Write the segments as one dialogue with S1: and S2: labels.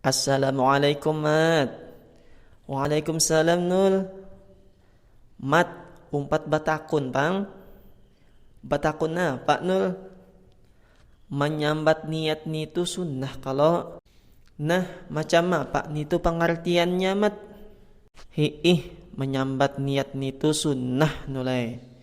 S1: Assalamualaikum mat. Waalaikumsalam nul. Mat, umpat batakun pang. Batakun napa nul? Manyambat niat nitu sunnah kalo? Nah, macam apa nitu pangartiannya mat? Hi'ih, manyambat niat nitu sunnah nul ai.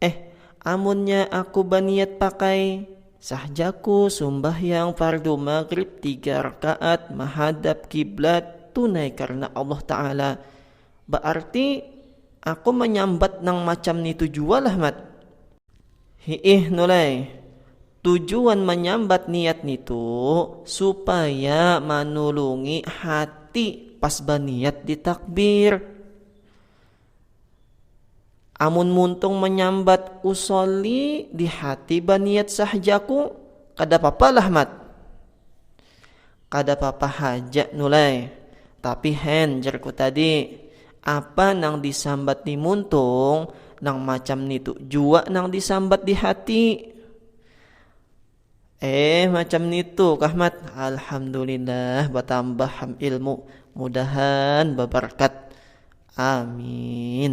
S1: Eh, amunnya aku baniat pakai. Sah jaku sumbahyang fardu maghrib tiga rakaat mahadap kiblat tunai karna Allah Ta'ala. Baarti aku manyambat nang macam nitu jua lah Mat? Hi'ih Nulai, tujuan manyambat niat nitu supaya manulungi hati pas baniat di takbir. Amun muntung manyambat usolli di hati baniat sahjaku kada papa lah mat. Kada papa haja nulai, tapi hen jarku tadi apa nang disambat ni muntung nang macam nitu jua nang disambat di hati. Eh macam nitu kah Mat. Alhamdulillah batambah ham ilmu. Mudahan babarkat. Amin.